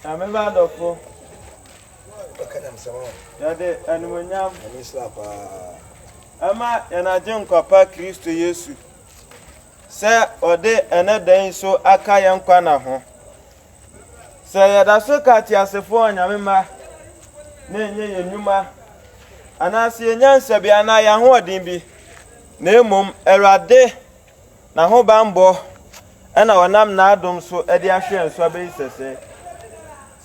Na me ba adɔfo, yɛde animonyam ɛma yɛn Agyenkwa pa Kristo Yesu sɛ ɔde ɛnɛ da yi so aka yɛn nkwa na ho. Sɛ yɛda so ka teasefoɔ ɔnyame mma na ɛnyɛ yɛn nnwuma anaasɛ yɛnya nsabea anaa yɛn ahoɔden bi na mmom Awurade N'ahobammɔ na ɔnam n'adom so de ahwɛ yɛn so abɛyi sɛsɛ.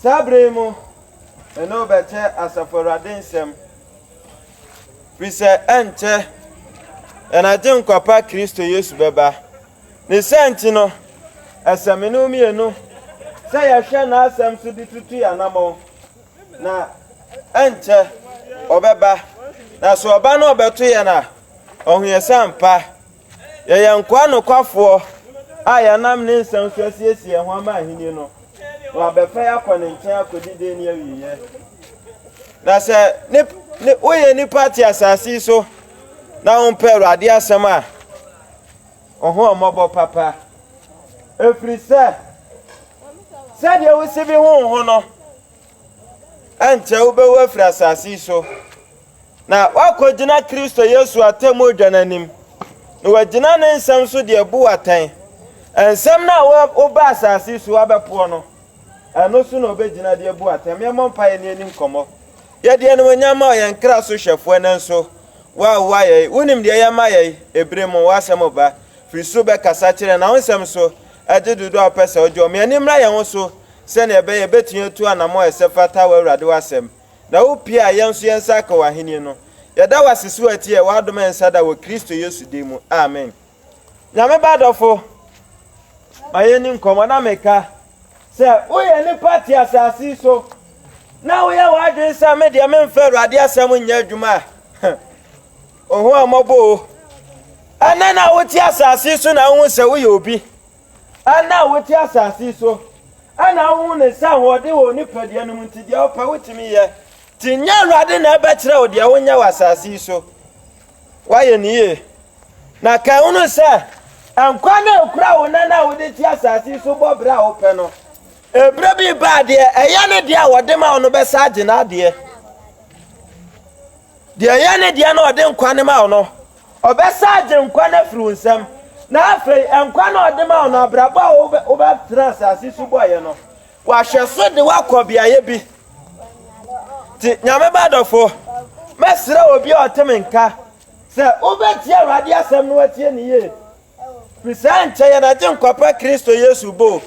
Saa bere yi mu, me ne wo bɛkyɛ Asafo Awurade nsɛm, firi sɛ ɛnkyɛ yɛn Agyenkwa pa Kristo Yesu bɛba. Ne saa nti no, ɛsɛ me ne wo mmienu sɛ yɛhwɛ n'asɛm so de tutu yɛn anammɔn, na ɛnkyɛ ɔbɛba, na sɛ ɔba na ɔbɛto yɛn a, ɔho yɛ sɛ ampa. Yɛyɛ nkoa nokwafoɔ a yɛnam ne nsɛm so asiesie yɛn ho ama Ahenni no, na wabɛfa yɛn akɔ ne nkyɛn akɔdi dɛn ne awieɛ. Na sɛ ne, ne, woyɛ nipa te asase yi so na wompɛ Awurade asɛm a, ɔho ɔmmɔbɔ papa. Ɛfiri sɛ, sɛdeɛ wosi bi ho ho no, ɛnkyɛ wobɛwu afiri asase yi so. Na woakogyina Kristo Yesu atɛmmudwa no anim, na woagyina ne nsɛm so de abu wo atɛn. Nsɛm no a woba asase yi so abɛpoɔ no, ɛno so na obegyina de abu wo atɛn. Mɛmmɔ mpaeɛ ne yɛnni nkɔmmɔ. Yɛde animuonyam ma wo, yɛn kra so hwɛfoɔ, ɛnnɛ nso, wo a woayɛ yɛn. Wonim deɛ ɛyɛ ma yɛn. Ebire mu, w'asɛm ba. Firi soro bɛkasa kyerɛ yɛn, na wo nsɛm nso, ɛgye dodoɔ a wopɛ sɛ wogye wɔn. Ma yɛn ani mmra yɛn ho so, sɛdeɛ ɛbɛyɛ a yɛbɛtumi atu anammɔn a ɛsɛ fata w'Awurade w'asɛm. Na wo pie a yɛn nso yɛn nsa aka w'ahennie no. Yɛda wo ase sɛ woatiɛ w'adom ɛnsa da wɔ Kristo Yesu din mu. Amen. Nyame ba dɔfo, ma yɛnni nkɔmmɔ na meka sɛ woyɛ nipa te asase yi so na woyɛ w'adwene sɛ me deɛ memfa Awurade asɛm nyɛ adwuma a, ohu ammɔbɔ o. Ɛnɛ na wote asase yi so na wohu sɛ woyɛ obi. Ɛnnɛ a wote asase yi so, ɛna wohu ne nsa ahoɔden wɔ wo nipadua no mu nti, deɛ wopɛ wotumi yɛ. Nti nyɛ Awurade na ɛbɛkyerɛ wo deɛ wonyɛ wɔ asase yi so. Woayɛ ne yie. Na kan hunu sɛ, nkwa no a ɛkura wo nɛ no a wode te asase yi so bɔ berɛ a wopɛ no, ɛberɛ bi ba a deɛ ɛyɛ ne deɛ a wɔde ma wo no bɛsa agye n'adeɛ. Deɛ ɔyɛ ne deɛ na ɔde nkwa no ma wo no, ɔbɛsan agye nkwa no afiri wo nsam. Na afei, nkwa no a ɔde ma wo no, abrabɔ a wobɛ, wobɛtena asase so bɔeɛ no, wahwɛ so de woakɔ beaeɛ bi. Nti, Nyame ba dɔfo, mɛsrɛ obi a ɔte me nka sɛ wobɛtie Awurade asɛm na watie ne yie, firi saa nkyɛ yɛn Agyenkwa pa Kristo Yesu bo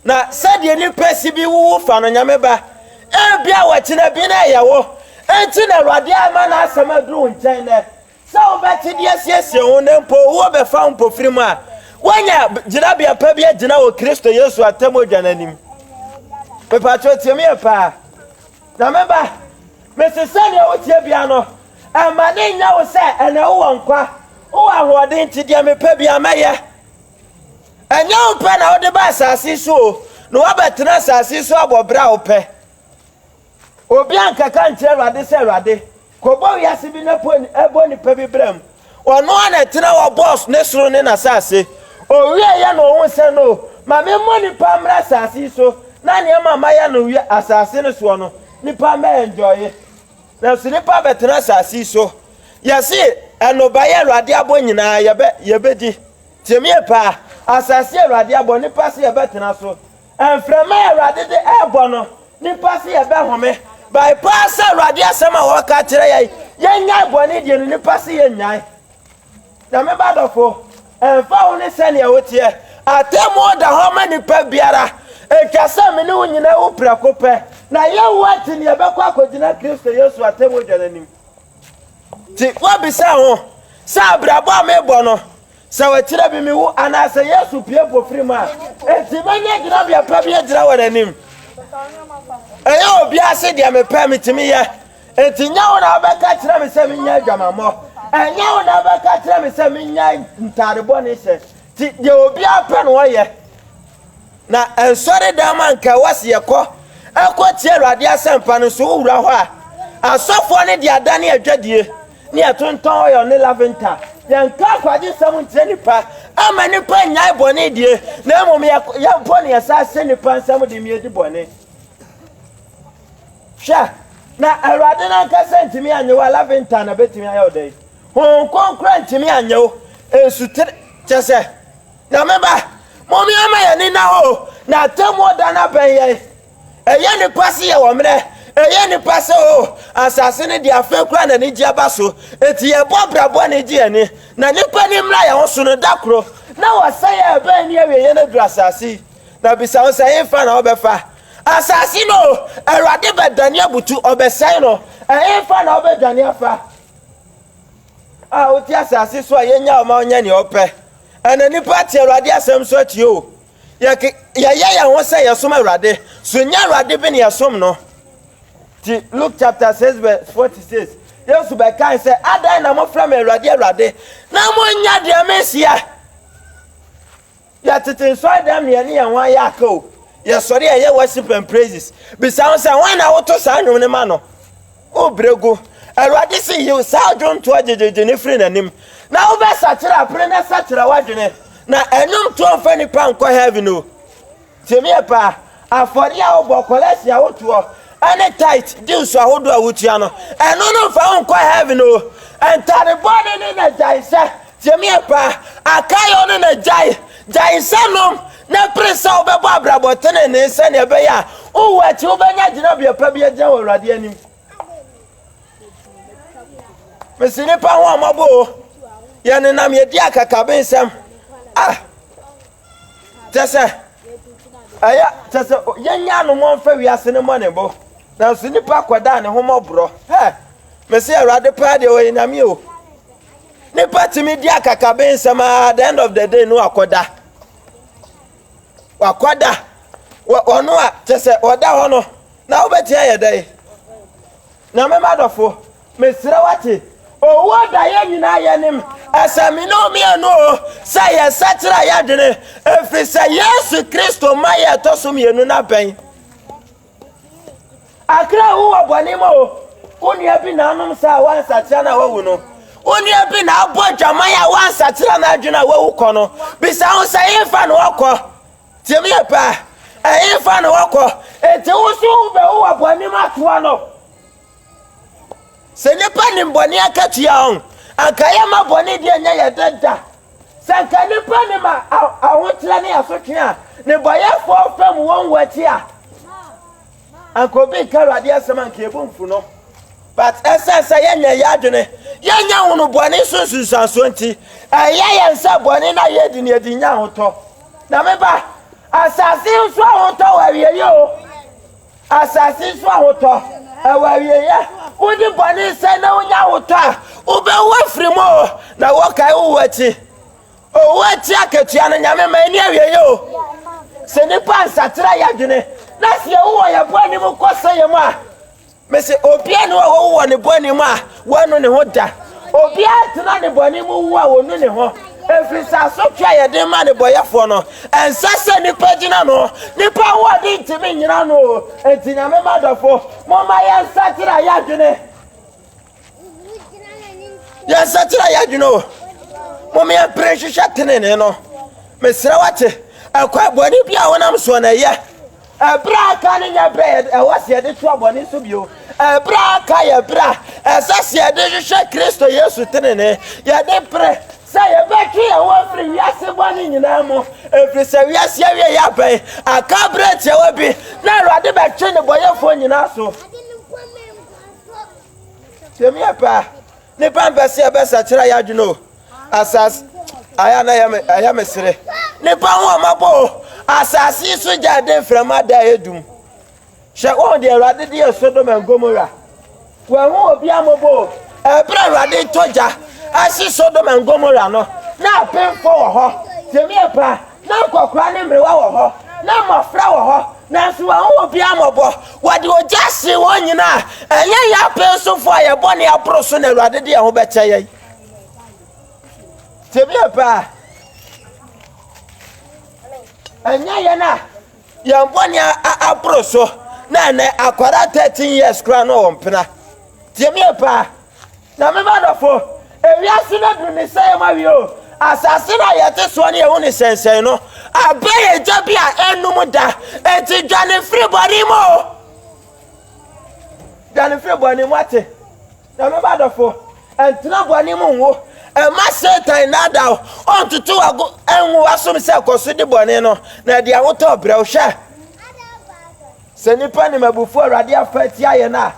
Na sɛdeɛ nnipa si bi wuwu fa no Nyame ba, ebia wɔkyena bi na ɛyɛ wo, enti na Awurade ama n'asɛm aduru wo nkyɛn nnɛ, sɛ wobɛte de asiesie wo ho na mpo owuo bɛfa wo mpofirim a, woanya gyinabea pa bi agyina wɔ Kristo Yesu atemmuodwa no anim. Mepakyɛw tie me yie paa. Nyame ba, mese sɛdeɛ woteɛ bia no, ɛmma ne nyɛ wo sɛ ɛnɛ wowɔ nkwa, wowɔ ahoɔden nti deɛ mepɛ bia mɛyɛ. Ɛnyɛ wo pɛ na wode ba asase yi so o, na woabɛtena asase yi so abɔ bere a wopɛ. Obi ankɛka nkyerɛ Awurade sɛ, Awurade, kɔbɔ wiase bi na bɔ nnipa bi bra mu. Ɔno a na ɛtena hɔ bɔɔ ne soro ne n'asase. Owie yɛ no ohun sɛ no, ma memmɔ nnipa mmra asase yi so na nneɛma a mayɛ no asase no soɔ no, nnipa mmɛ ɛnjɔye. Nanso nnipa abɛtena asase yi so. Yɛse, Ɛnobaeɛ a Awurade abɔ nyinaa yɛbɛdi. Tie me ɛpɛ a, asase a Awurade abɔ, nnipa se yɛbɛtena so, mframa a Awurade de ɛɛbɔ no, nnipa se yɛbɛhome, by paa sɛ Awurade asɛm a wɔka kyerɛ yɛn, yɛnyae bɔne deɛ no, nnipa se yɛnyae. Na me ba dɔfo, ɛmfa ho ne sɛdeɛ woteɛ, atemmuo da hɔ ma nipa biara, ɛtwa sɛ me ne wo nyinaa wu prɛko pɛ, na yɛnwu akyi no yɛbɛkɔ akɔgyina Kristo Yesu atemmuo dwa no anim. Nti woabisa ho sɛ, 'Abrabɔ a merebɔ no, sɛ wɔkyerɛ me mewu anaa sɛ Yesu pue mpofirim mu a, enti mɛnya gyinabea pa bi agyina wɔn anim? Ɛnyɛ obi ase deɛ mepɛ metumi yɛ. Enti nyɛ wo na wobɛka kyerɛ me sɛ menyɛ adwamammɔ. Ɛnyɛ wo na wobɛka kyerɛ me sɛ menyɛ ntade bɔne hyɛ. Nti deɛ obiara pɛ na ɔyɛ. Na nsɔre dan mu a nka ɛwɔ se yɛkɔ ɛkɔ tie Awurade asɛmpa no nso wo wura hɔ a asɔfoɔ no de adane adwadie ne ɛtontɔn oil ne lavinter yɛ nka akwagye nsɛm nkyerɛ nipa ama nipa nyae bɔne die na mmom yɛ yɛ mpo ne yɛsa se nipa nsɛm de mi edi bɔne hwɛ na Awurade nankasa ntumi anye wo a lavinter na betumi ayɛ wo dɛn honhom kronkron ntumi anye wo nsutere kyɛ sɛ Nyame ba, momea ma yɛn ani nna hɔ o, na atemmuo da no abɛn yɛn. Ɛyɛ nnipa se yɛwɔ mmerɛ, ɛyɛ nnipa sɛ o, asase no deɛ afei koraa na anigyeɛ aba so. Enti yɛbɔ bra bɔne gye yɛn ani, na nnipa ani mmra yɛn ho so no da koro. Na wɔsɛeɛ a ɛbɛn ne awieɛ no aduru asase yi. Na bisa wo sɛ, Hefa na wɔbɛfa? Asase no o, Awurade bɛdane abutu, ɔbɛsɛe no. Ɛhefa na wɔbɛdwane afa? A wote asase so a yɛnnyaa wo ma wonyɛ deɛ wopɛ. Ɛnnɛ, nnipa te Awurade asɛm nso akyi o. Yɛke, yɛyɛ yɛn ho sɛ yɛsom Awurade, so ɛnyɛ Awurade bi na yɛsom no. Ti Luke chapter 6 verse 46, Yesu bɛkae sɛ, Adɛn na mofrɛ me Awurade, Awurade, na monnyɛ deɛ mehyia? Yɛtete nsɔredɛm na yɛne yɛn ho ayɛ aka o. Yɛsɔre a yɛyɛ worship and praises. Bisa ho sɛ, hwan na woto saa nnwom no ma no? O berɛ gu! Awurade se, Yiw, saa adwontoɔ gyegyeegye no firi n'anim, na wobɛsakyera apere no asakyera w'adwene, na ɛnwomtoɔ mfa nnipa nkɔ heaven o. Tie me yɛ paa, afɔdeɛ a wobɔ, kɔlɛɛse a wotoɔ, ne tithe, dues, ahodoɔ a wotua no, ɛno no mfa wo nkɔ heaven o. Ntade bɔne ne n'agyae nhyɛ, Tiamie pa a Kayo ne n'agyae gyae nsa nom na pere sɛ wobɛbɔ abrabɔ tenenee sɛnea ɛbɛyɛ a wowu akyi wobɛnya gyinabea pa bi agyina wɔ Awurade anim. Mese nnipa ho ɔmɔbɔ o, yɛnenam yɛdi akakabensɛm a kyɛ sɛ ɛyɛ kyɛ sɛ yɛnya anom ɔmfa wiase ne mmɔne bo nanso nnipa kɔdaa ne ho mɔborɔ. Hɛ! Mese Awurade paa deɛ ɔyɛ Nyame o. Nipa tumi di akakabe nsɛm a the end of the day no akɔda. Wakɔda. Ɔno a kyɛ sɛ ɔda hɔ no na wobɛtumi ayɛ dɛn? Na me ma dɔfo, mesrɛ wate owuo daeɛ nyinaa yɛnim ɛsɛ me ne mmienu o sɛ yɛsakyera yɛadwene ɛfiri sɛ yesu kristo ma yɛ ɛtɔ so mmienu no abɛn Akra wu wɔ bɔne mu o. Wo nua bi na anom saa a wansakyera no a wawu no. Wo nua bi na abɔ adwaman a wansakyera n'adwene a wawu kɔ no. Bisa ho sɛ ɛhefa na ɔkɔ? Tie me yɛ paa. Ɛhefa na ɔkɔ? Enti wo nso wobɛwu wɔ bɔne mu atoa no. Sɛ nnipa nim bɔne akatua a, anka yɛma bɔne deɛ nyɛ yɛ dɛ da. Sɛ anka nnipa nim ahokyerɛ ne asotwe a, nnebɔyɛfoɔ fam wɔn wɔ akyi a, anka obi nka Awurade asɛm anka yɛbu mfu no. But ɛsiane sɛ yɛnyɛ yɛ adwene, yɛnyɛ hunu bɔne so nsunsuansoɔ nti, ɛyɛ yɛn sɛ bɔne no a yɛdi no yɛdi nya ahotɔ. Na me ba, asase nso ahotɔ wɔ awieɛ o. Asase so ahotɔ, ɛwɔ awieɛ. Wode bɔne sɛ na wonya ahotɔ a, wobɛwu afiri mu o, na wɔkae wowu akyi. Owu akyi akatua no, Nyame ma ɛni awieɛ o. Sɛ nnipa nsakyera yɛ adwene, na sɛ yɛwu wɔ yɛn bɔne mu kɔ sɛ yɛn mu a, mese obiara ni hɔ a wɔwu wɔ ne bɔne mu a, Wannu ne ho da. Obiara ntena ne bɔne mu nwu a onnu ne ho, efiri sɛ asotwe a yɛde rema nnebɔyɛfoɔ no, ɛnsɛ sɛ nnipa gyina ano. Nnipa ahoɔden ntumi nnyina ano. Enti Nyame mma adɔfo, momma yɛnsakyera yɛn adwene. Yɛnsakyera yɛn adwene o. Mom yɛmpere nhwehwɛ tenenee no. Mesrɛ wate, ɛkwan bɔne bi a wonam soɔ no ɛyɛ. Ɛberɛ a aka no nyɛ berɛ a ɛwɔ sɛ yɛde toa bɔne so bio. Ɛberɛ a aka yɛ berɛ a ɛsɛ sɛ yɛde hwehwɛ Kristo Yesu tenenee. Yɛde pere sɛ yɛbɛtwe yɛn ho afiri wiase bɔne nyinaa mu, ɛfiri sɛ wiase awieeɛ abɛn. Aka berɛ tiawa bi na Awurade bɛtwe nnebɔneyɛfoɔ nyinaa aso. Nnipa mpɛ sɛ yɛbɛsakyera yɛn adwene o, asase ayɛ a na ɛyɛ me ɛyɛ me sere. Nnipa ho wɔn abɔ o, asase yi so gya de mframa da a edum. Hyɛ wɔn deɛ Awurade de yɛ Sodom and Gomorrah. Wɔahu obi amɔbɔ o. Ɛberɛ Awurade tɔ gya ahye Sodom and Gomorrah no, na apemfoɔ wɔ hɔ. Tie me yɛ paa. Ná nkwakoraa ne mmerewa wɔ hɔ, na mmofra wɔ hɔ, nanso wɔanhu obiara mmɔbɔ. Wɔde ogya hyee wɔn nyinaa. Ɛnyɛ yɛn apɛnsofo a yɛn bɔne aboro so na Awurade de yɛn ho bɛkyɛ yɛn. Tebea pa a ɛnyɛ yɛn a yɛn bɔne aboro so na ɛnɛ akwadaa 13 years koraa no wɔ mpena. Tebea pa a. Na me m'adɔfo, ewiase no adu ne sɛe mu awiei o, asase no a yɛte soɔ ne yɛhu ne sɛnsɛn no abɛn egya bi a ɛnnum da, enti dwane firi bɔne mu o, dwane firi bɔne mu, woate? Na me m'adɔfo, ntena bɔne mu nwo, mma Satan nnaadaa wo, ɔntoto wo ago ngu w'asom sɛ kɔ so di bɔne no, na di ahotɔ brɛ. Hwɛ! Sɛ nnipa nim abufuo a Awurade afa atia yɛn a,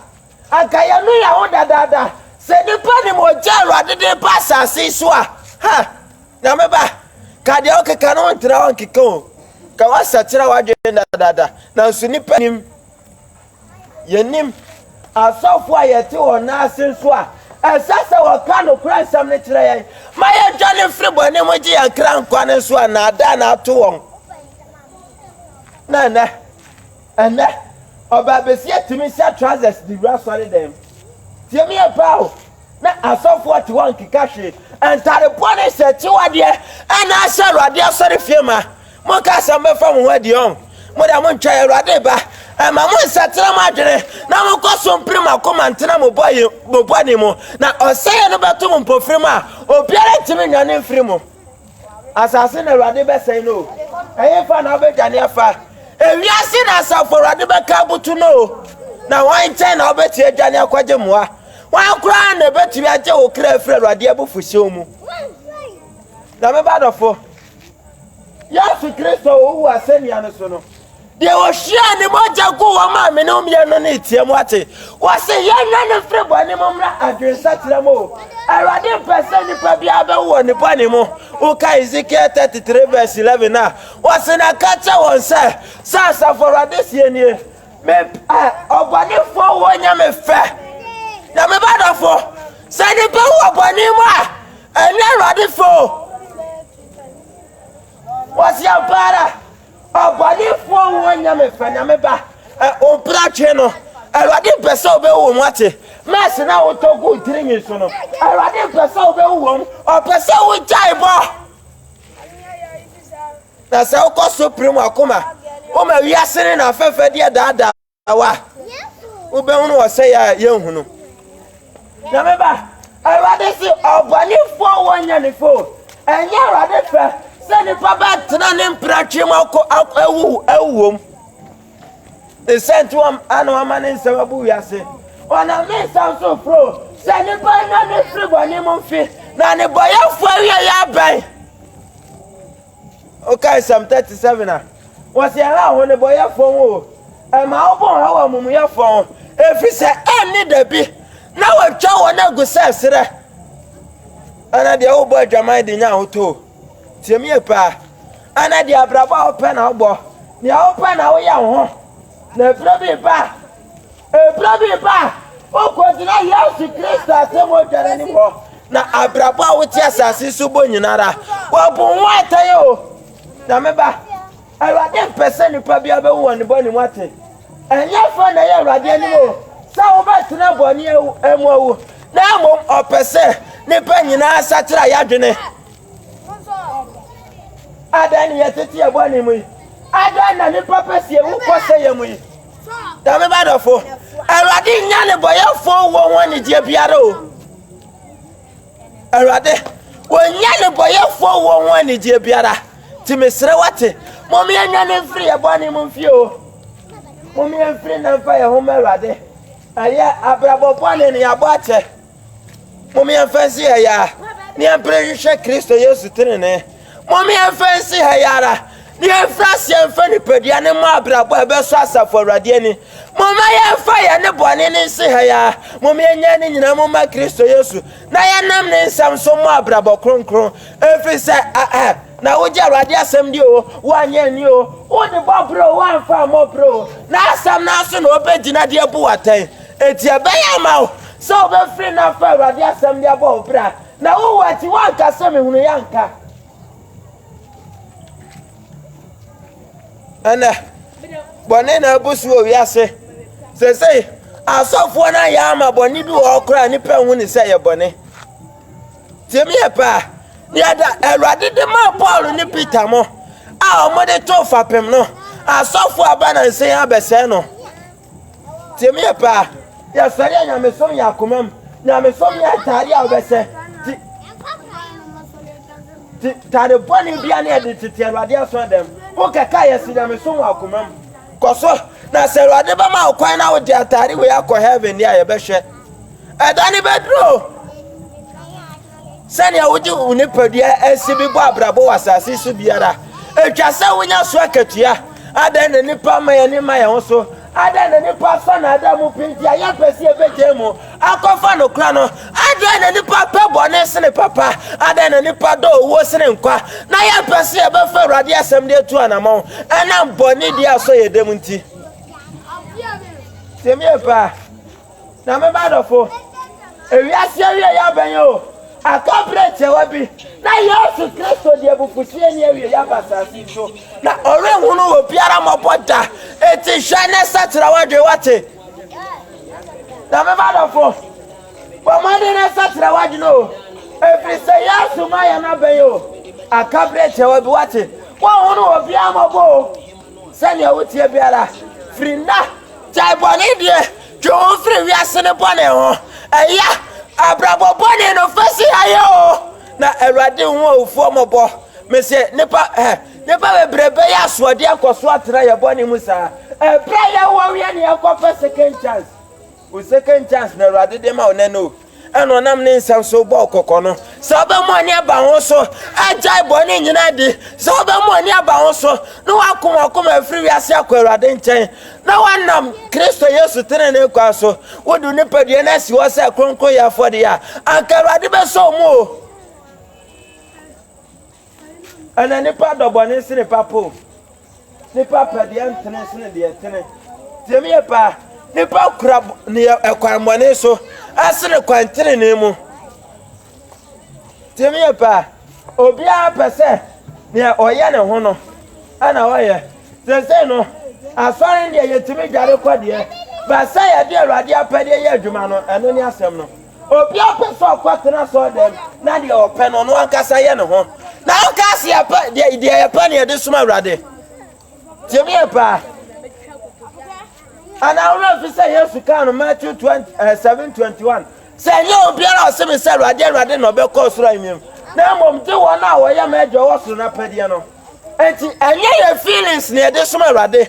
Anka yɛnwe yɛn ho dadaada. Sɛ nnipa nim ogya a Awurade de reba asase yi so a, ha! Nyame ba, ka deɛ wokeka no ntra hɔ nkeka o. Ka woasakyera w'adwene dadaada. Nanso nnipa nim. Yɛnim. Asɔfo a yɛte wɔn nan ase nso a, ɛsɛ sɛ wɔka nokorɛ nsɛm no kyerɛ yɛn ma yɛdwane mfiri bɔne mu gye yɛn kra nkwa no nso a, nnaadaa na ato wɔn. Na ɛnnɛ. Ɛnnɛ, ɔbaabasia tumi hyɛ trousers de wura asɔredan mu. Tie me yie paa o, na asɔfoɔ te hɔ nkeka hwee, ntade bɔne hyɛ, akyiwadeɛ, ɛna ahyɛ Awurade asɔrefie ma. Monka asɛm bɛfa mo ho adi ɔn. Mo deɛ montwɛn, Awurade reba. Ɛma mo nsakyera mo adwene, na monkɔ so mpere mo akoma ntena mo bɔne mu, na ɔsɛeɛ no bɛto mo mpofirim a obiara ntumi nnwane mfiri mu. Asase na Awurade bɛsɛe no o, ɛhefa na wobɛdwane afa? Ewiase na asafo Awurade bɛka abutu no o, na hwan nkyɛn na wobɛtumi adwane akɔgye mmoa? Hwan koraa na ɛbɛtumi agye wo kra afiri Awurade abufuhyew mu? Na me ba dɔfo, Yesu Kristo a ɔwu wɔ asɛnnua no so no, Deɛ wɔhwiaa ne mogya guu wɔn a me ne wɔn yɛ no no reteɛ mu ate. Wɔse, Yɛnnye no mfiri bɔne mu mmra adwensakyera mu o. Awurade mpɛ sɛ nipa biara bɛwu wɔ ne bɔne mu. Woka Hesekiel 33 vs 11 a, wɔse, Na ka kyerɛ wɔn sɛ, Sɛ Asafo Awurade seɛ nie, Mempɛ ɔbɔnefoɔ wɔ Nyame fɛ, na me ba dɔfo, sɛ nipa wu wɔ bɔne mu a, ɛnyɛ Awurade fɛ o. Wɔse, Ampa ara. Ɔbɔnefoɔ wo nyɛ me fɛ na me ba ɛ ɔbra twe no Awurade mpɛ sɛ ɔbɛwu wɔ mu ate mɛse na wotɔ gu tiri nwi so no Awurade mpɛ sɛ ɔbɛwu wɔ mu ɔpɛ sɛ wogyae bɔ na sɛ wokɔ so pere mu akoma woma wiase ne na fɛfɛ deɛ daadaa Awa, wobɛhunu ɔsɛeɛ a yɛnhu no. Nyame ba, Awurade se ɔbɔnefoɔ wɔ nyanefo. Ɛnyɛ Awurade fɛ sɛ nipa bɛtena ne mpratwe mu akɔ awu awuom. Ne sɛ nti wɔn ana wɔma ne nsɛm abu wiase. Ɔnam ne nsɛm so foro sɛ nipa nya ne firi bɔne mu mfe, na ne bɔyɛfoɔ awie yɛ abɛn. Wokae Psalm 37 a, wɔse, Ɛhaw wo nnebɔneyɛfoɔ ho o, ɛma wo bo haw amumuyɛfoɔ ho, ɛfiri sɛ ɛnne da bi na wɔatwa wɔn agu sɛ serɛ, anaa deɛ wobɔ adwaman de nya ahotɔ o. Tie me yie paa, anaa deɛ abrabɔ a wopɛ na wobɔ, deɛ wopɛ na woyɛ wo ho, na ɛberɛ bi reba a, Bere bi ba a wokɔgyina Yesu Kristo asɛm a otwa no anim hɔ, na abrabɔ a wote asase so bɔ nyinara, wɔabu ho atɛn o. Na me ba, Awurade mpɛ sɛ nipa biara bɛwu wɔ ne bɔne mu ate. Ɛnyɛ fɛ na ɛyɛ Awurade anim o sɛ wobɛtena bɔne mu awu, na mmom ɔpɛ sɛ nipa nyinaa sakyera yɛ adwene. Adɛn ne yɛtete yɛ bɔne mu yi? Adɛn na nnipa pɛ si ewu kɔ sɛ yɛ mu yi? Dame ba dɔfo, Awurade nya ne bɔyɛfo wɔ ho anigyeɛ biara o. Awurade, wɔnya ne bɔyɛfo wɔ ho anigyeɛ biara. Ti mesrɛ wate, mom yɛnya ne mfiri yɛ bɔne mu mfie o. Mom yɛmfiri na mfa yɛ ho ma Awurade. Ɛyɛ abrabɔ bɔne ne yɛabɔ akyɛ. Mom yɛmfa nsi ha yi ara na yɛmpere nhwehwɛ Kristo Yesu tenenee. Mom yɛmfa nsi ha yi ara na yɛmfiri aseɛ mfa nipadua no mmɔ abrabɔ a ɛbɛsɔ asafo awurade ani. Momma yɛmfa yɛn ne bɔne no nsi ha yi ara. Mom yɛnyɛ ne nyinaa mu mma Kristo Yesu na yɛnam ne nsɛm so mmɔ abrabɔ kronkron. Ɛfiri sɛ ɛɛ na wogye awurade asɛm di o, woanyɛ ani o, wode bɔ berɛ o, woamfa ammɔ berɛ o, n'asɛm no aso na wobɛgyina de abu wo atɛn. Enti ɛbɛyɛ ama wo sɛ wobɛfiri na afa Awurade asɛm de abɔ wo bra, na wowu akyi woanka sɛ mehunuiɛ anka. Ɛnɛ, bɔne na abu so wɔ wiase. Seesei, asɔfoɔ no ayɛ ama bɔne bi wɔ hɔ koraa nnipa nhu ne sɛ ɛyɛ bɔne. Tie me yɛ paa. Deɛ da Awurade de maa Paul ne Peter mo a wɔde too fapem no, asɔfoɔ aba nansa yi abɛsɛe no. Tie me yɛ paa. Yɛsɔre a nyamesom yɛ akomam. Nyamesom nyɛ atade a wobɛhyɛ. Ti ti tade bɔne bia ne yɛde tete Awurade aso adam. Wokɛka yɛsi nyamesom wɔ akomam. Kɔ so na sɛ Awurade bɛma wo kwan na wode atade wei akɔ heaven deɛ a yɛbɛhwɛ. Ɛda ne bɛduro. Sɛnea wode wo nipadua si bi bɔ abrabɔ wɔ asase so biara, etwa sɛ wonya so akatua. Adɛn na nnipa ma yɛn ani ma yɛn ho so? Adɛn na nnipa fa nnaadaa mu pɛ nti a yɛmpɛ sɛ yebegyae mu akɔfa nokorɛ no? Adɛn na nnipa pɛ bɔne sene papa? Adɛn na nnipa dɔ owuo sene nkwa, na yɛmpɛ sɛ yɛbɛfa Awurade asɛm de atu anammɔn ɛnam bɔne bi a ɛsɔ yɛn dam nti? Nyame mma adɔfo, ewiase awiei abɛn o, aka bere tiawa bi na Yesu Kristo de abufuhyew ani awiei aba asase yi so, na ɔrenhunu obiara mmɔbɔ da. Enti hwɛ na sakyera w'adwene, woate? Nyame mma adɔfo, bɔ mmɔden na sakyera w'adwene o, ɛfiri sɛ Yesu ma yɛn abɛn o, aka bere tiawa bi, woate? Wɔnhunu obiara mmɔbɔ o. Sɛnea woteɛ biara, firi nnɛ, gyae bɔne die, twe wo ho firi wiase no bɔne ho. Ɛyɛ abrabɔ bɔne no fɛsi ayɛ o, na Awurade nhu owufoɔ mmɔbɔ. Mese nipa ɛ, nipa bebree bɛyɛ asoɔdeɛ nkɔso atena yɛ bɔne mu saa, ɛberɛ a yɛwɔ yɛne yɛnkɔpɛ second chance. Wo second chance na Awurade de ma wo nɛ no, ɛna ɔnam ne nsɛm so bɔ kɔkɔ no, sɛ wobɛmu ani aba ho so, agyae bɔne nyinaa di, sɛ wobɛmu ani aba ho so, na woako wakoma afiri wiase akɔ Awurade nkyɛn, na woanam Kristo Yesu tenene kwan so, wode wo nipadua no asi hɔ sɛ kronkronyɛ afɔdeɛ a, anka Awurade bɛsɔ wo mu o. Ɛna nipa dɔ bɔne sene papa o. Nipa pɛ deɛ ntene sene deɛ tene. Deɛ meyɛ paa, nipa kura neɛ ɛkwan bɔne so asene kwan tenenee mu. Deɛ meyɛ paa, obiara pɛ sɛ neɛ ɔyɛ ne ho no ɛna ɔyɛ. Sɛsɛn no, asɔre deɛ yɛtumi dware kɔ deɛ, ba sɛ yɛde awurade apɛdeɛ yɛ adwuma no, ɛno ne asɛm no. Obiara pɛ sɛ ɔkɔtena sɔɔdɛm na deɛ ɔpɛ no ɔno ankasa yɛ ne ho na ɔnka ase yɛpɛ deɛ deɛ yɛpɛ ne yɛde som awurade tie me yɛ paa anaa wura fi sɛ yesu kaa no matthew 20 uh, 7 21 sɛ ɛnyɛ obiara ɔse me sɛ awurade awurade na ɔbɛkɔ soro anim na mmom gye wɔn a wɔyɛ m'agya ɔwɔ soro no apɛdeɛ no enti ɛnyɛ yɛ feelings ne yɛde som awurade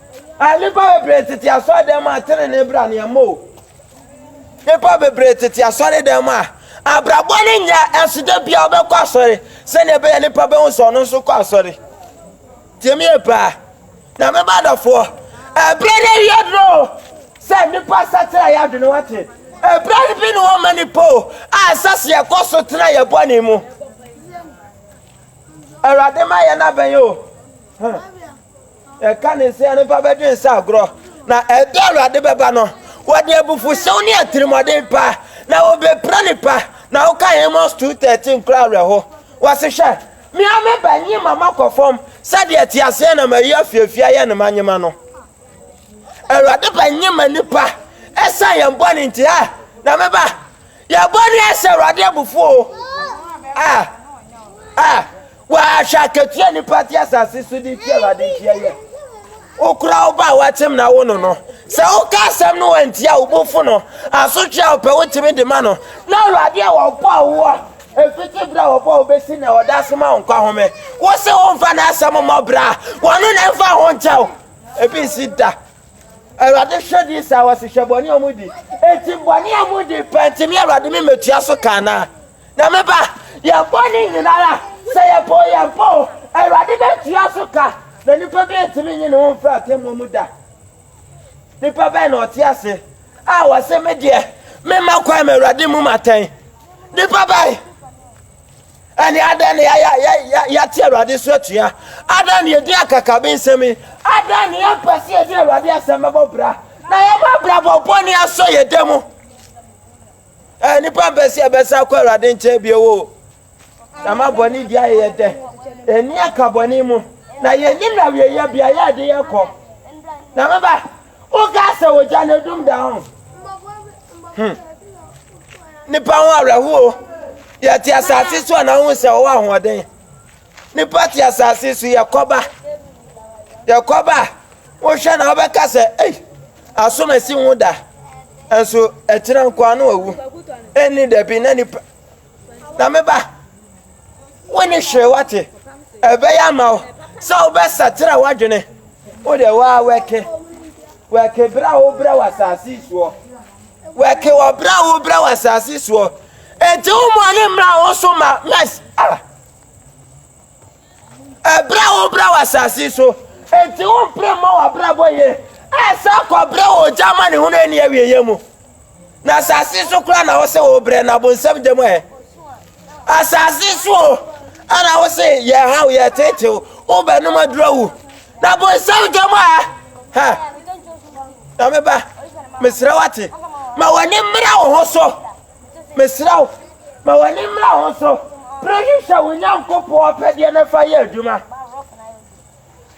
A Nnipa bebree tete asɔredan mu a tenenee bra ne ɛmmɔ o. Nnipa bebree tete asɔredan mu a abrabɔ no nyɛ ɛso da biara wobɛkɔ asɔre sɛdeɛ ɛbɛyɛ nnipa bɛhu sɛ ɔno nso kɔ asɔre. Tie me yie paa. Na me ba dɔfoɔ, ɛberɛ no awie duro sɛ nnipa sakyera yɛ adwene wate. Ɛberɛ no bi ne hɔ ma nnipa o a ɛsɛ sɛ yɛkɔ so tena yɛ bɔne mu. Awurade ma yɛn abɛn o. Ɛka ne sɛ nnipa bɛdwe nsa agorɔ, na ɛda a Awurade bɛba no, wɔde abufuhyew ne atirimmɔden pa, na wɔbɛpira nnipa. Na woka Amos 2:13 kora awerɛho. Wɔse hwɛ, me ara me ba nyi ma makɔ fam sɛdeɛ teaseɛnam ayi afiafi ayɛ ne manyema no. Awurade ba nyi ma nnipa ɛsiane yɛn bɔne nti a, na me ba, yɛn bɔne ahyɛ Awurade abufuo a, a, Wahwɛ akatua a nnipa te asase so de tia Awurade nti ɛyɛ. Wokora wo ba a wakyem na wo no no. Sɛ woka asɛm no wantia wo bo fo no, asotwe a wopɛ wotumi de ma no. Na Awurade a wɔbɔɔ woɔ ɛfiti berɛ a wɔbɔɔ wo bɛsi nnɛ ɔda so ma wo nkwa home. Wo se womfa n'asɛm mmɔ bra a, wɔno na ɛmfa ho nkyɛ wo. Ebi nsi da. Awurade hwɛ di saa wɔsi hwɛ bɔne a wɔn di. Eti bɔne a wɔn di pɛ ntumi Awurade mi mɛtua so ka anaa? Na me ba, yɛn bɔne nyinara, sɛ yɛbɔɔ yɛn pɔ o, Awurade bɛtua so ka, na nipa bi ntumi nyi ne ho mfiri atemmuo mu da. Nipa bɛn na ɔte ase a ɔse me deɛ memma kwan ma Awurade mmu me atɛn? Nipa bɛn? Ɛne adɛn na yɛayɛ a yɛ- yɛ- yɛate Awurade so atua? Adɛn na yɛdi akakabensɛm yi? Adɛn na yɛmpɛ sɛ yɛde Awurade asɛm bɛbɔ bra, na yɛma abrabɔ bɔne asɔ yɛn da mu? Ɛɛ, nnipa mpɛ sɛ yɛbɛsan kɔ Awurade nkyɛn bio o. Na ma bɔne di ayɛ yɛ dɛ. Ani aka bɔne mu. Na yɛnim na wieyɛ bia yɛ de yɛ kɔ. Na me ba, wokaa sɛ ogya na edum da ho. Hmm. Nnipa ho awerɛhoɔ. Yɛte asase so a na wohu sɛ wɔwɔ ahoɔden. Nnipa te asase so yɛ kɔba. Yɛ kɔba a wohwɛ na wobɛka sɛ, ei, asom asi ho da. Nso akyina nkoa no awu. Ɛnni dabi na nipa. Na meba, wo ne hwee wate. Ɛbɛyɛ ama wo sɛ wobɛsakyera w'adwene. Wo deɛ waa wɛke. Wɛke berɛ a wobrɛ wɔ asase soɔ. Wɛke wɔ berɛ a wobrɛ wɔ asase soɔ. Enti wo mmɔne mmra wo so ma mɛs. Ah! Ɛberɛ a wobrɛ wɔ asase so, enti wompere mmɔ w'abrabɔ yie ɛsɛ kɔbrɛ wɔ ogya amanehunu ɛnni awieɛ mu. Na asase so koraa na wose wobrɛ na bonsam gyam ɛ. Asase so o, ɛna wose yɛ ha o, yɛ tete o, wobɛnom aduro wu. Na bonsam gyam ɛ. Ha, na meba, mesrɛ wate, ma w'ani mmra wo ho so. Mesrɛ wo, ma w'ani mmra ho so. Pere hwehwɛ wo Nyankopɔn apɛdeɛ na fa yɛ adwuma.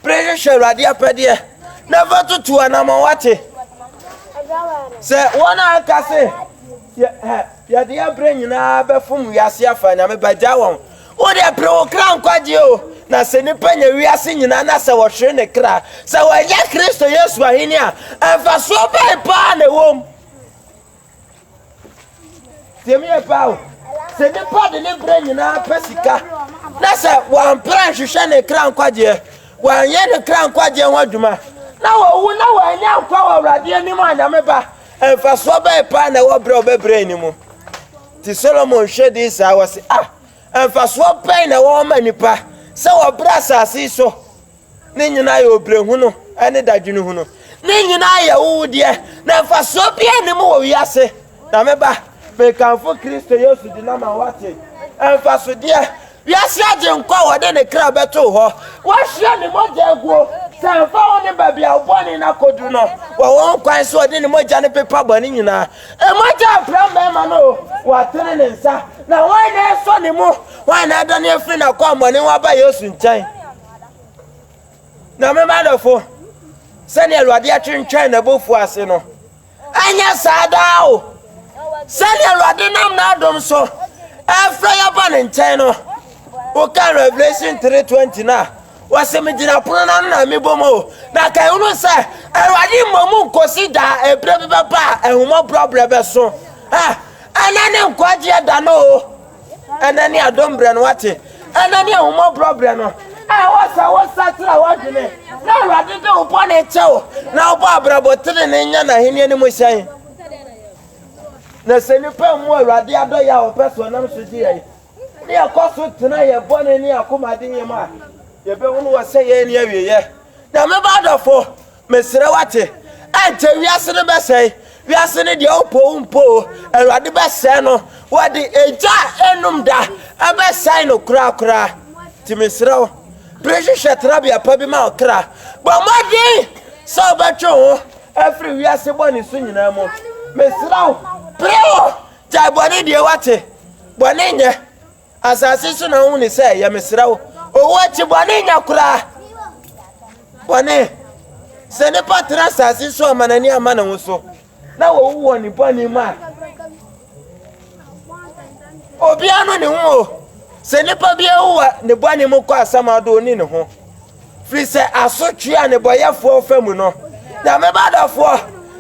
Pere hwehwɛ Awurade apɛdeɛ na fa tutu anamɔ wate. Sɛ wɔn a aka se, yɛde yɛ berɛ nyinaa bɛfom wiase afa Nyame ba gya wɔn. Wo deɛ pere wo kra nkwagyeɛ o. Na sɛ nipa nya wiase nyinaa na sɛ wɔhwere ne kra, sɛ wɔnyɛ Kristo Yesu ahene a, mfasoɔ bɛn paa na ɛwɔ mu? Tie me yɛ paa o. Sɛ nipa de ne berɛ nyinaa pɛ sika na sɛ wampere nhwehwɛ ne kra nkwagyeɛ, wanyɛ ne kra nkwagyeɛ ho adwuma na wawu na wanya nkwa wɔ Awurade anim a Nyame ba, mfasoɔ bɛn paa na ɛwɔ berɛ a ɔbɛbrɛ ani mu? Nti Solomon hwɛ dii saa, ɔse, Ah! Mfasoɔ bɛn na ɛwɔ ma nipa sɛ ɔbrɛ asase yi so Ne nyinaa yɛ obrɛhunu ne dadwenehunu. Ne nyinaa yɛ wowdeɛ, na mfasoɔ biara nni mu wɔ wiase. Na me ba, mekamfo Kristo Yesu din ama woate mfasodeɛ wiase agyenkwa a wɔde ne kra bɛtoo hɔ, wɔahyira ne mogya aguo sɛ ɛmfa wo ne baabi a wo bɔne no akɔduru no wɔ wo nkwa nso wɔde ne mogya no pepa bɔne nyinaa. Mogya afra mmarima no o, wɔatene ne nsa. Na hwan na ɛresɔ ne mu? Hwan na adane afiri n'akwammɔne ho aba Yesu nkyɛn? Na me mma adɔfo, sɛnea Awurade atwentwɛn n'abufuo ase no, ɛnyɛ saa daa o. Sɛnea Awurade nam n'adom so ɛfrɛ yɛ ba ne nkyɛn no, woka Revelation 3:20 no a, wɔse megyina pono no ano na mebɔ mu o. Na ka ɛhunu sɛ Awurade mmɔ mu nkosi daa ɛberɛ bi bɛba a ahummɔborɔ berɛ bɛso. Ɛnɛ ne nkwagyeɛ da no o. Ɛnnɛ ne adom berɛ no, wate? Ɛnnɛ ne ahummɔborɔ berɛ no. Ɛwɔ sɛ wosakyera w'adwene na Awurade de wo bɔne kyɛ wo na wobɔ abrabɔ tenenee nya n'ahenni no mu hyɛn. Na sɛ nnipa mmu Awurade adɔeɛ a ɔpɛ so ɔnam so gye yɛn ne yɛkɔ so tena yɛn bɔne ne yɛn akomadeɛ mu a, yɛbɛhunu wɔ sɛ yɛn ne awieɛ. Nyame ba adɔfo, Mesrɛ w'ate, ɛnkyɛ wiase no bɛsɛe, wiase ne deɛ ɔpɔ wo mpo o, Awurade bɛsɛe no, wɔde egya a ɛnnum da bɛsɛe no korakora. Nti mesrɛ wo, bere hwehwɛ tenabea pa bi ma wo kra, bɔ mmɔden sɛ wobɛtwe wo ho afiri wiase bɔne so nyinaa mu. Mesrɛ wo, pere wo, gyae bɔne die, w'ate? Bɔne nyɛ. Asase so na wohu ne sɛ ɛyɛ mesrɛ wo owu akyi bɔne nya koraa bɔne sɛ nipa tena asase so ama n'ani ama ne ho so na wɔwu wɔ ne bɔne mu a obiara no ne ho o sɛ nipa bi awu wɔ ne bɔne mu kɔ asɛm ado ɔni ne ho Firi sɛ asotwe a nnebɔyɛfoɔ fa mu no, Nyame ba dɔfoɔ,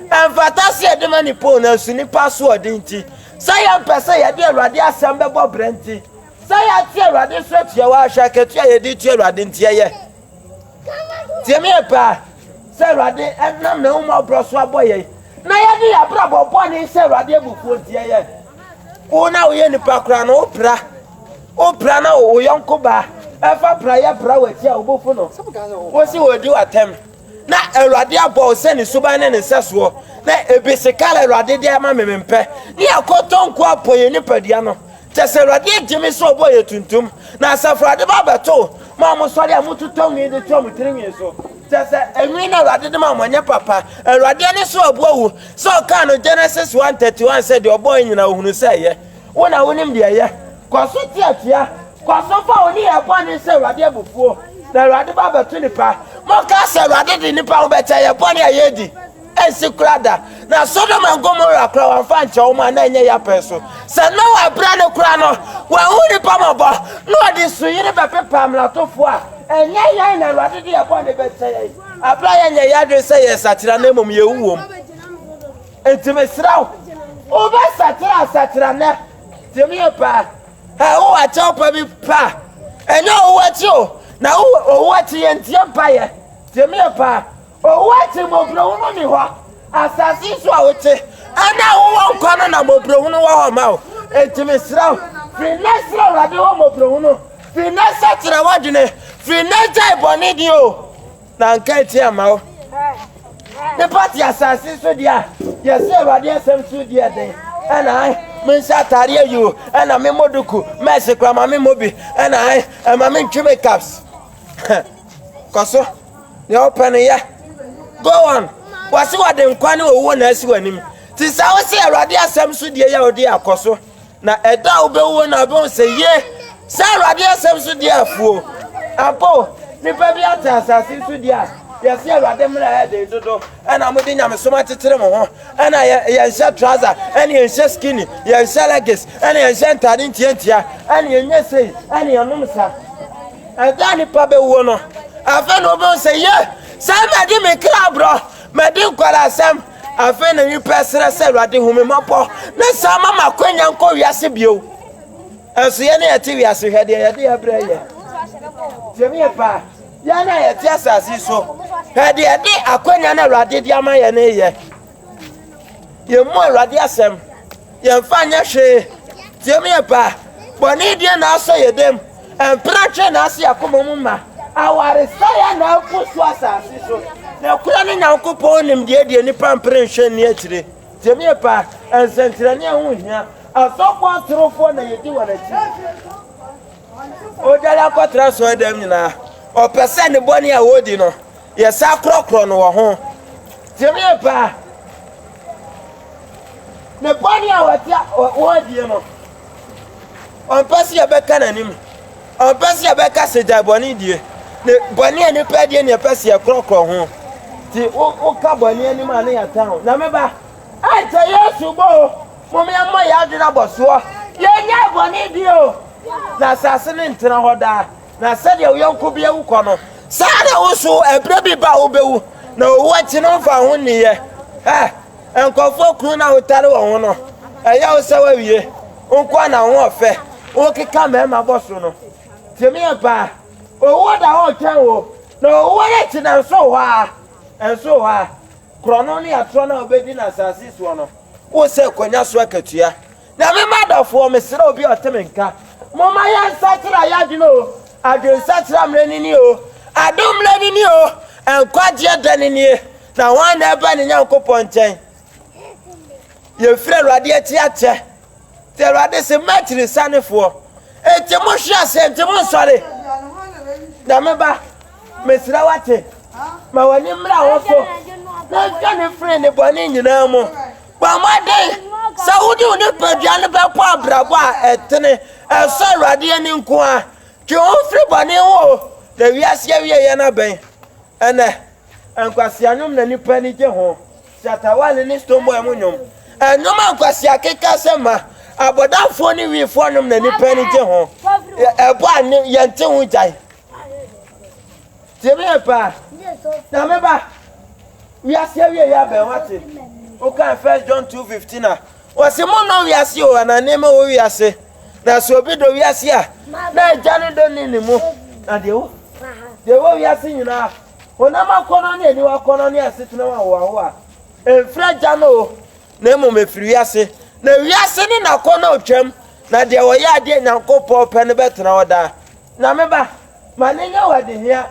ɛmfata sɛ yɛde ma nipa o, nanso nnipa asoɔden nti, sɛ yɛmpɛ sɛ yɛde Awurade asɛm bɛbɔ bra nti, sɛ yɛte Awurade nso atua wɔ ahwɛ akatua a yɛde tua Awurade nti yɛyɛ. Tie me yɛ paa, sɛ Awurade nam n'ahummɔborɔ so abɔ yɛn, na yɛde yɛn abrabɔ bɔne hyɛ Awurade abufuo nti yɛyɛ. Wo na woyɛ nipa koraa no, wopra. Wo pra na wo yɔnko ba a, fa prayɛ pra w'akyi a obofu no kosi wadi wo atɛm. Na Awurade abɔ wo sɛ ne suban ne ne nsɛsoɔ, na ebi se, Kala Awurade de ama me, mempɛ. Ne akoto nko ara pɔ yɛn nipadua no. Kyɛ sɛ Awurade agye me sɛ ɔbɔɔ yɛn tuntum, na Asafo Awurade ba abɛto mo a mosɔre a mototɔ nwi de twa mo tiri nwi so. Kyɛ sɛ nwi no a Awurade de maa mo nyɛ papa. Awurade ani so abu awu sɛ ɔkaa no Genesis 1:31 sɛ deɛ ɔbɔɔ yɛn nyinaa ɔhunu sɛ ɛyɛ. Wo na wonim deɛ ɛyɛ. Kɔ so teɛ tia. Kɔ so fa wo nneyɛɛ bɔne hyɛ Awurade abufuo, na Awurade ba bɛto nnipa. Monka sɛ, Awurade de nnipa ho bɛkyɛ yɛn bɔne a yɛadi. Ɛnsi koraa da. Na Sodom and Gomorrah koraa wɔamfa ankyɛ wɔn a na ɛnyɛ yɛn pɛ so. Sɛ Noa berɛ no koraa no, wɔanhu nnipa mmɔbɔ, na wɔde nsuyiri bɛpepaa mmaratofoɔ a. Ɛnyɛ yɛn na Awurade de yɛn bɔne bɛkyɛ yɛn, berɛ a yɛnyɛɛ yɛn adwene sɛ yɛresakyera na mmom yɛwu wom. Enti mesrɛ wo, wobɛsakyera asakyerɛnnɛ de me aba a, a wowɔ akyɛwpa bi pɛ a, ɛnyɛ owu akyi o, na wowɔ owu akyi yɛ nteɛ mpaeɛ de me aba a, owu akyi mmɔborɔhunu ni hɔ. Asase so a wote ɛna a wowɔ nkwa no na mmɔborɔhunu wɔ hɔ ma wo. Enti mesrɛ wo, firi nnɛ srɛ Awurade hɔ mmɔborɔhunu, firi nnɛ sakyera w'adwene, firi nnɛ gyae bɔne di o. Na anka ɛteɛ ama wo. Ne ba te asase so deɛ a, yɛsɛ Awurade asɛm so di ɛden. Ɛna ae, menhyɛ atade ayi o, ɛna memmɔ duku, mɛɛse koraa ma memmɔ bi. Ɛna ae, ɛma mentwe makeups. Kɔ so, deɛ wopɛ no yɛ. Go on. Wɔse wɔde nkwa ne owuo na asi w'anim. Ti saa wosɛ Awurade asɛm so die yɛ wo de akɔ so. Na ɛda a wobɛwu hɔ na wobɛhu sɛ, ye, sɛ Awurade asɛm so deɛ afuo. Ampa o, nnipa bi ate asase yi so deɛ a yɛse Awurade mmara yɛ den dodo, ɛna mode nyamesom akyekyere mo ho, ɛna yɛ, yɛnhyɛ trouser, ɛna yɛnhyɛ skinny, yɛnhyɛ leggings, ɛna yɛnhyɛ ntaade ntiantia, ɛna yɛnyɛ sei, ɛna yɛnom sa. Ɛda a nnipa bɛwuo no, afei na wobɛhu sɛ, ye, sɛ madi me kra borɔ, madi nkwadaa asɛm, Afei na nnipa ɛsrɛ sɛ Awurade hu me mmɔbɔ na saa ma ma akwanya nkɔ wiase bio. Ɛnso yɛn a yɛte wiase hwɛ deɛ yɛde ɛbrɛ yɛ. Tiɛmi yɛ paa. Yɛn a yɛte asase so hwɛ deɛ yɛde akwanya na Awurade de ama yɛn yɛ. Yɛn mu Awurade asɛm. Yɛmfa nyɛ hwee, tie me ɛba. Bɔne deɛ na asɔ yɛ dam, mpena atwɛn na ase akoma mu ma. Awaresɛeɛ na agu so asase so, nokorɛ no Nyankopɔn nim deɛ deɛ nnipa mpere nhwɛ nni akyire. Tie me ɛba, nsɛnkyerɛnneɛ ho hia, asɔfoɔ atorofoɔ na yɛdi wɔn akyi. Ɔdwane akɔtra asɔredam nyinaa, ɔpɛ sɛ ne bɔne a ɔredi no Yɛ saa korɔkorɔ no wɔ ho. Tie me yie paa. Ne bɔne a wɔatia wɔn adie no, ɔmpɛ sɛ yɛbɛka n'anim. Ɔmpɛ sɛ yɛbɛka sɛ gyae bɔne die. Ne bɔne a nipa adie ne yɛpɛ sɛ yɛkorɔkorɔ ho. Ti woka bɔne anim a ne yɛtan ho. Nyame ba, ɛnkyɛ Yesu bɔ o. Mom yɛmmɔ yɛn adwene abɔ soɔ. Yɛnyae bɔne die o. Na asase no ntena hɔ daa. Na sɛdeɛ wo yɔnko bi awu kɔ no, saa ara na wo nso ɛberɛ bi ba a wobɛwu, na owuo akyi no mfa ho nniiɛ. Hɛ! Nkurɔfoɔ kunu no a wotane wɔn ho no, ɛyɛ wo sɛ woawie? Wo nko ara na wo ho yɛ fɛ, wokeka mmarima bɔ so no. Tie me yie paa, owuo da hɔ retwɛn wo, na owuo no akyi no ɛnso wo hɔ ara, ɛnso wo hɔ ara. Korɔno ne atorɔ no a wobɛdi no asase soɔ no, wosɛ kɔnya so akatua. Na me mma adɔfoɔ, mesrɛ obi a ɔte me nka, momma yɛnsakyera yɛn adwene o, adwensakyera mmerɛ no nie o, adom mmerɛ no nie o, nkwagyeɛ da no nie, na hwan na ɛba ne Nyankopɔn nkyɛn? Yɛfiri Awurade akyi akyɛ, nti Awurade se, m'akyirisanefoɔ, enti mohwe aseɛ, enti monsɔre, na me ba, mesrɛ wate, ma w'ani mmra wo so, na ntwa ne firi ne bɔne nyinaa mu. Bɔ mmɔden sɛ wode wo nipadua no bɛbɔ abrabɔ a ɛtene, a ɛsɔ Awurade ani nko ara. Twe wo ho firi bɔne ho o, na wiase awieeɛ no abɛn. Ɛnnɛ, nkwasea nnwom na nnipa ani gye ho, Shatta Wale ne Stonebwoy mo nnwom. Nnwom a nkwasea akekasɛm ma, abɔdamfoɔ ne wifoɔ nnwom na nnipa ani gye ho, ɛbɔ a yɛnte ho gyae. Tie me yie paa, na me ba, wiase awieeɛ abɛn, wate? Wokan First John 2:15 a, wɔse monnɔ wiase o, anaa nneɛma ɛwɔ wiase. Na sɛ obi dɔ wiase a, na agya no dɔ ni ne mu. Na deɛ wo, deɛ ɛwɔ wiase nyinaa, honam akɔnnɔ ne aniwa akɔnnɔ ne asetena mu ahoahoa, ɛmfiri agya no o, na mmom ɛfiri wiase. Na wiase ne n'akɔnnɔ retwam, na deɛ ɔyɛ adeɛ a Nyankopɔn pɛ no bɛtena hɔ daa. Na me ba. Ma no nyɛ wo adehia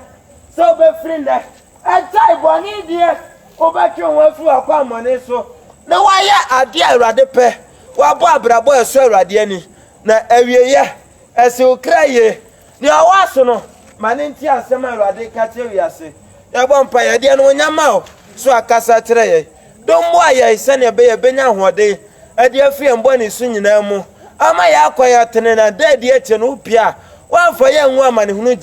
sɛ wobɛfiri nnɛ agyae bɔne die, wobɛtwe wo ho afiri w'akwammɔne so, na woayɛ adeɛ a Awurade pɛ, woabɔ abrabɔ a ɛsɔ Awurade ani, na awieeɛ, asi wo kra yie. Deɛ ɔwɔ aso no, ma no ntie asɛm a Awurade reka kyerɛ wiase. Yɛbɔ mpaeɛ, yɛde anuonyam ma wo sɛ woakasa akyerɛ yɛn. Dom boaa yɛn sɛnea ɛbɛyɛ a yebenya ahoɔden de afi yɛn bɔne su nyinaa mu ama yɛakɔ yɛn trenee na da a edi akyiri no wo pɛ a woamfa yɛn angu amanehunu gya mu.